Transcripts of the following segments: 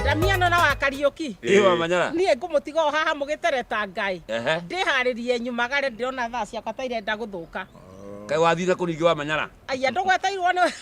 Ndamiano na wa Kariũki. Ĩ wa manyara. Niĩ ngũmũtiga o haha mũgĩtereta Ngai. Ehe. Ndĩharĩrie nyumagare ndĩrona thaa ciakwa ta irenda gũthũka. Kaĩ wathire kũ ningĩ wa manyara? Aya ndũgweteirwo nĩ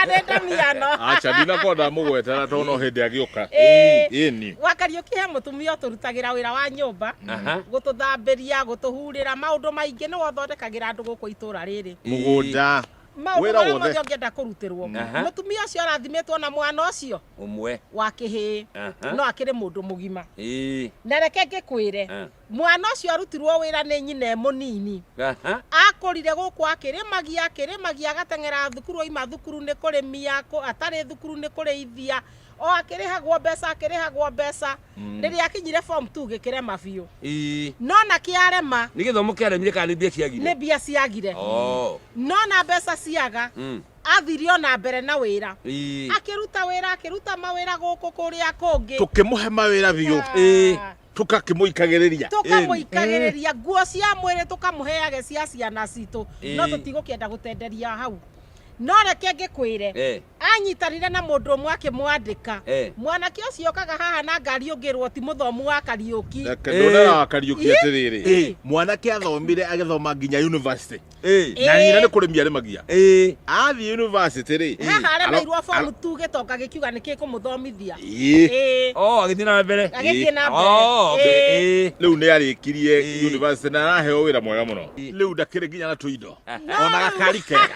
nĩ Ndamiano. Acha ndinakorwo ndamũgwetera tondũ no hĩndĩ agĩũka. Ĩĩ. Ĩni. Wa Kariũki he mũtumia ũtũrutagĩra wĩra wa nyũmba, Aha. gũtũthambĩria, gũtũhurĩra, maũndũ maingĩ nĩwe ũthondekagĩra andũ gũkũ itũũra rĩrĩ. Mũgũnda. maũndũ Wĩra marĩa wothe. mothe ũngĩenda kũrutĩrwo Aha. mũtumia ũcio arathimĩtwo na mwana ũcio ũmwe wa kĩhĩĩ Aha. no akĩrĩ mũndũ mũgima Ĩĩ. na reke ngĩkwĩre Ah. mwana ũcio arutirwo wĩra nĩ nyina e mũnini Aha. akũrire gũkũ akĩrĩmagia akĩrĩmagia agateng'era thukuru oima thukuru nĩ kũrĩmia kũ- atarĩ thukuru nĩ kũrĩithia o akĩrĩhagwo mbeca akĩrĩhagwo mbeca Mm. rĩrĩa akinyire form 2 gĩkĩrema biũ Ii. no na kĩarema nä gä thomo kä aremire kana nä mbia nĩ ciagire mbia ciagire Oh. no na mbeca ciaga Mm. athire o na mbere na wĩra Ii. akĩruta wĩra akĩruta mawĩra gũkũ kũrĩa kũngĩ tũkĩmũhe mawĩra biũ Ĩĩ. tũkakĩmũikagĩrĩria tũkamũikagĩrĩria nguo cia mwĩrĩ tũkamũheage cia ciana citũ no Ĩĩ. tũtigũkĩenda gũtenderia hau no reke ngĩkwĩre Eh. anyitanire na mũndũ ũmwe akĩmwandĩka Eh. mwanake ũcio okaga haha na ngari ũngĩrwo ti mũthomu wa kariũki Reke ndũrera wa Kariũki atĩrĩrĩ Ĩ. mwanake athomire agĩthoma nginya university Ĩ. na nyina nĩ kũrĩmia arĩmagia Ĩ. athiĩ university rĩ haha aremeirwo fomu tu gĩtonga gĩkiuga nĩ kĩkũmũthomithia Ĩ. Ĩ, Oh, agĩthiĩ na mbere. agĩthiĩ na Oh, okay. mbere Ĩ. Ĩ. rĩu nĩ arĩkirie Ĩ. university na araheo wĩra mwega mũno Ĩ. rĩu ndakĩrĩ nginya na tũindo ona gakari kega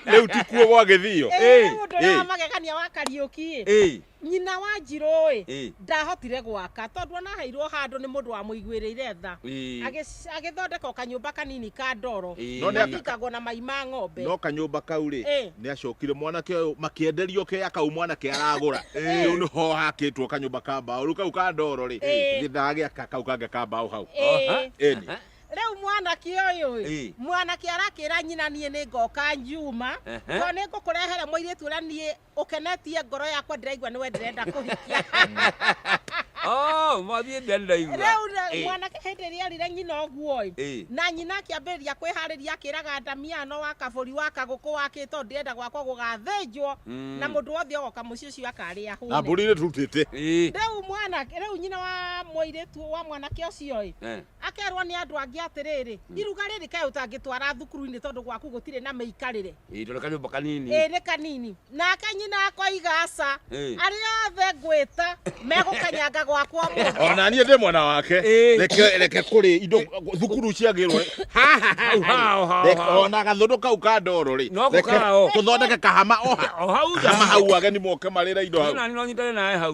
rä u tikuo gwa gä thiyo Ĩĩ, nĩ mũndũ ũrĩa wa magegania wa Kariũki ĩ. nyina wa njirũ ĩ Ĩĩ. ndahotire gwaka tondũ anaheirwo handũ nĩ mũndũ wamũiguĩrĩire tha Ĩĩ. Agĩ- agĩthondeka o kanyũmba kanini ka ndoro Ĩĩ. No nĩ aka- gakĩkagwo na mai ma ng'ombe no kanyũmba kau rĩ Ĩĩ. nä acokire mwanake å yå makienderio ke akau mwanake aragåra rä u nä ho hakä two kanyå mba ka mbaå rä u kau ka ndoro rä Ĩĩ. gä thaa gä aka kau kangä ka mbaå hau Ĩĩ. Ĩni. Rĩu mwanake ũyũ Ĩ. ĩ mwanake arakĩra nyina niĩ nĩ ngoka ngiuma Ehe. tondũ nĩ ngũkũrehere mũirĩtu ũrĩa niĩ ũkenetie ngoro yakwa ndĩraigua nĩwe ndĩrenda kũhikia Oh, mwathiĩ mbere ndĩraigua. rĩu na- Ĩ. mwanake hĩndĩ ĩrĩa erire nyina ũguo ĩ Ĩ. na nyina akĩambĩrĩria kwĩharĩria akĩraga ndamiano wa kabũri wa kagũkũ wakĩ tondũ ndĩrenda gwakwa gũgathĩnjwo Mm. na mũndũ wothe ogoka mũciĩ ũcio akarĩa na hũne mbũri irĩ turutĩte Ĩ. rĩu mwanake rĩu nyina wa mũirĩtu wa mwanake ũcio ĩ Eh. akerwo nĩ andũ angĩ atĩrĩrĩ hmm. iruga rĩrĩ kaĩ ũtangĩtwara thukuru-inĩ tondũ gwaku gũtirĩ na mĩikarĩre ĩĩ tondũ kanyũmba kanini ĩĩ nĩ kanini nake nyina akoiga aca arĩa othe ngwĩta megũkanyanga gwakwa mũndũ ona niĩ ndĩ mwena wake reke kũrĩ indo thukuru ciagĩrwo ona gathũndũ kau ka ndoro rĩ tũthondeke kahama oha kahama hau ageni moke marĩra indo hau no nyitane nawe hau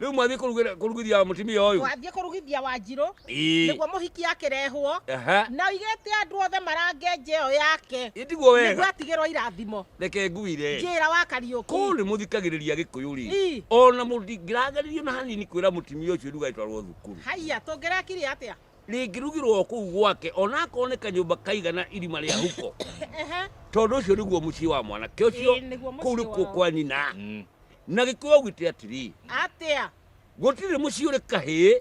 rĩu mwathiĩ kũrugithia mũtimia ũyũ wathiĩ kũrugithia wa njirũ Ii. nĩguo mũhiki akĩrehwo Aha. na oigĩte andũ othe marange nja ĩyo yake Ndigwo nĩguo wega. atigĩrwo irathimo Reke ngwire. njĩra wa kariũki Kũũ nĩ mũthikagĩrĩria gĩkũyũ rĩ. Ii. Ona mũndingĩragererio na hanini kwĩra mũtumia ũcio nduga ĩtwarwo thukuru. haiya tũngĩrekire atĩa Rĩngĩrugirwo kũu gwake ona akorwo nĩ kanyũmba kaigana irima rĩa huko. Ehe. Tondũ ũcio nĩguo mũciĩ wa mwanake ũcio Ĩĩ, nĩguo mũciĩ kũu nĩkuo wao. kwa nyina. Na gĩkũyũ augĩte atĩrĩ. atĩa Gũtirĩ mũciĩ ũrĩ kahĩĩ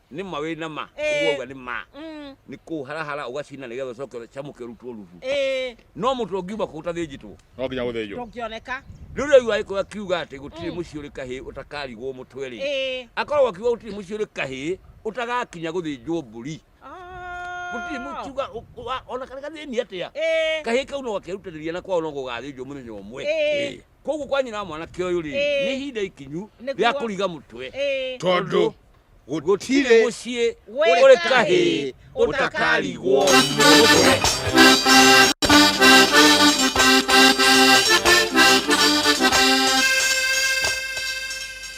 Nĩ ma wĩ na ma. Ĩĩ. Ũguo auga nĩ ma. Mm. Nĩ kũharahara ũgacina nĩ getha ũcoke ũcamũke ũrutwo rubu. Ĩĩ. No mũtwe ũngiuma kũ ũtathĩnjĩtwo? No nginya gũthĩnjwo. Ndũngĩoneka. Rĩu rĩu agĩkorwo akiuga atĩ gũtirĩ Mm. mũciĩ ũrĩ kahĩĩ ũtakarigwo mũtwe rĩ, Ĩĩ. akoragwo akiuga gũtirĩ mũciĩ ũrĩ kahĩĩ ũtagakinya gũthĩnjwo mbũri. Gũtirĩ Oh. mũkiuga ũ- ũ- wa- ona karĩ gathĩni atĩa, Ĩĩ. kahĩĩ kau no gakerutanĩria na kwao no gũgathĩnjwo mũthenya ũmwe. Ĩĩ. Ĩĩ. koguo kwanyu na mwanake ũyũ rĩ nĩ ihinda ikinyu rĩa kũriga mũtwe tondũ gũtirĩ mũciĩ ũrĩ kahĩĩ ũtakarigwo